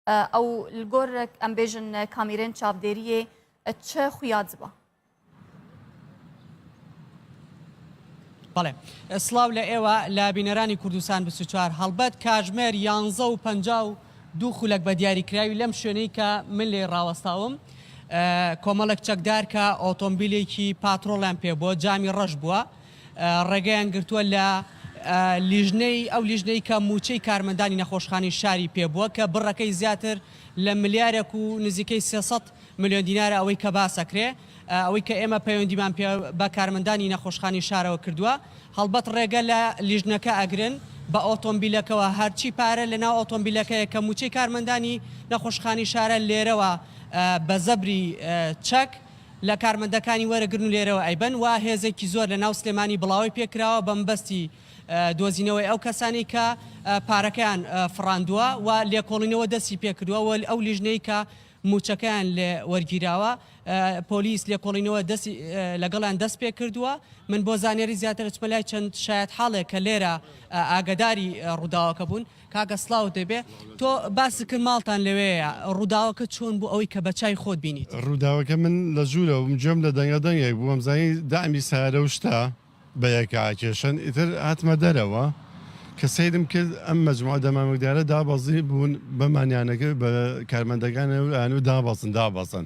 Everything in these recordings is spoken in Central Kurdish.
ئەو گۆر ئەم بێژن کامیرێن چاپدێریێ چ خویاد بە بەڵێ سلااو لە ئێوە لە بینەرانی کوردستان بچوار هەڵبەت کاژمێر یانزە و پ و دوو خولک بە دیاریکراوی لەم شوێنەی کە من لێ ڕاوەستاوم کۆمەڵک چەکدار کە ئۆتۆمبیلێکی پاترۆڵیان پێ بووە جامی ڕەش بووە ڕێگەیان گرتووە لە لیژنەی ئەو لیژنەی کە مووچەی کارمەندانی نەخۆشخانەی شاری پێ بووە کە بڕەکەی زیاتر لە ملیارێک و نزیکەی سێ سەد ملیۆن دینارە ئەوەی کە باسەکرێ ئەوەی کە ئێمە پەیوەندیمان پێ بە کارمەندانی نەخۆشخانەی شارەوە کردووە هەڵبەت ڕێگە لە لیژنەکە ئەگرن بە ئۆتۆمبیلەکەوە هەرچی پارە لە ناو ئۆتۆمبیلەکەیە کە مووچەی کارمەندانی نەخۆشخانەی شارە لێرەوە بە زەبری چەک لە کارمەندەکانی وەرەگرن و لێرەوە ئەیبەن و هێزێکی زۆر لە ناو سلێمانی بڵاوەی پێکراوە بە مەبەستی دۆزینەوەی ئەو کەسانەی کە پارەکەیان فڕاندووە و لێکۆڵینەوە دەستی پێکردووە و ئەو لیژنەی کە مووچەکەیان لێ وەرگیراوە پۆلیس لێکۆڵینەوە دەستی لەگەڵیان دەست پێکردووە من بۆ زانیاری زیاتر ئەچمە لای چەند شایەتحاڵێک کە لێرە ئاگەداری ڕووداوەکە بوون کاکە سڵاوت لێبێ تۆ باست کرد ماڵتان لەوێیە ڕووداوەکە چۆن بوو ئەوەی کە بەچای خۆت بینیت؟ ڕووداوەکە من لە ژوورەوە بووم گوێم لە دەنگە دەنگێک بوو وەمزانی دەعمی سەیارە و شتە بە یەکا ئەکێشن ئیتر هاتمە دەرەوە کە سەیرم کرد ئەم مەجموعە دەمامکدارە دابەزی بوون بە مانیانەکرد بە کارمەندەکانیان و دابەزن دابەزن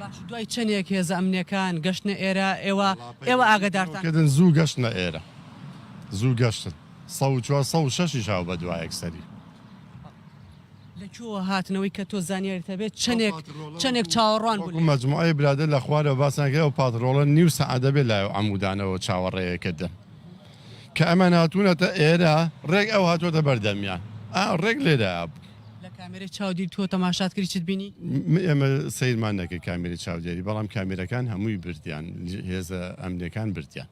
باش دوای چەنێک هێزە ئەمنیەکان گەشتنە ئێرە ئێوە ئێوە ئاگدارتان کردن زوو گەشتنە ئێرە زوو گەشتن سە چوار سە و شەشی شاو بە دوایەک سەری لەکووە هاتنەوەی کە تۆ زانیاریتە بێت چەندێک چەندێک چاوەڕوان بوو مەجموعی برادە لە خوارە باسانگەی و پاترۆڵە نیو سەعادە بێ لای و ئەمودانەوە چاوەڕێەکردن کە ئەمان هاتوونەتە ئێرە ڕێک ئەو هاتووەتە بەردەمیان ئا ڕێک لێرەیا بوو. لە کامێرەی چاودێری تۆ تەماشات کردی چت بینی؟ ئێمە سەیرمان نەکرد کامێرەی چاودێری بەڵام کامێرەکان هەمووی بردیان هێزە ئەمنیەکان بردیان.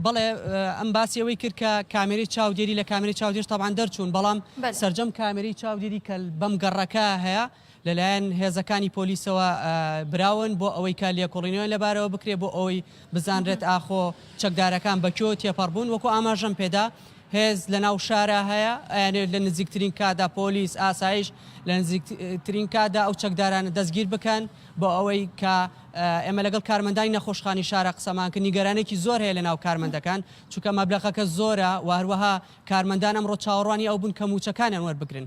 بەڵێ ئەم باسی ئەوەی کرد کە کامێری چاودێری لە کامێری چاودێش تاوان دەرچوون بەڵام سرجەم کامێری چاودێری کەل بەم گەڕەکە هەیە لەلایەن هێزەکانی پۆلیسەوە براون بۆ ئەوەی کە لێکۆڵینەوەیان لەبارەوە بکرێت بۆ ئەوەی بزانرێت ئاخۆ چەکدارەکان بە کوێوە تێپەڕ بوون وەکو ئاماژەم پێدا هێز لە ناو شارە هەیە ئەیانێت لە نزیکترین کادا پۆلیس ئاسایش لە نزیکترین کادا ئەو چەکدارانە دەستگیر بکەن بۆ ئەوەی کە ئێمە لەگەڵ کارمەندانی نەخۆشخانی شارە قسەمان کە نیگەرانێکی زۆر هەیە لە ناو کارمەندەکان چونکە مەبلەغەکە زۆرە و هەروەها کارمەندان ئەمڕۆ چاوەڕوانی ئەو بوون کە موچەکانیان وەربگرن.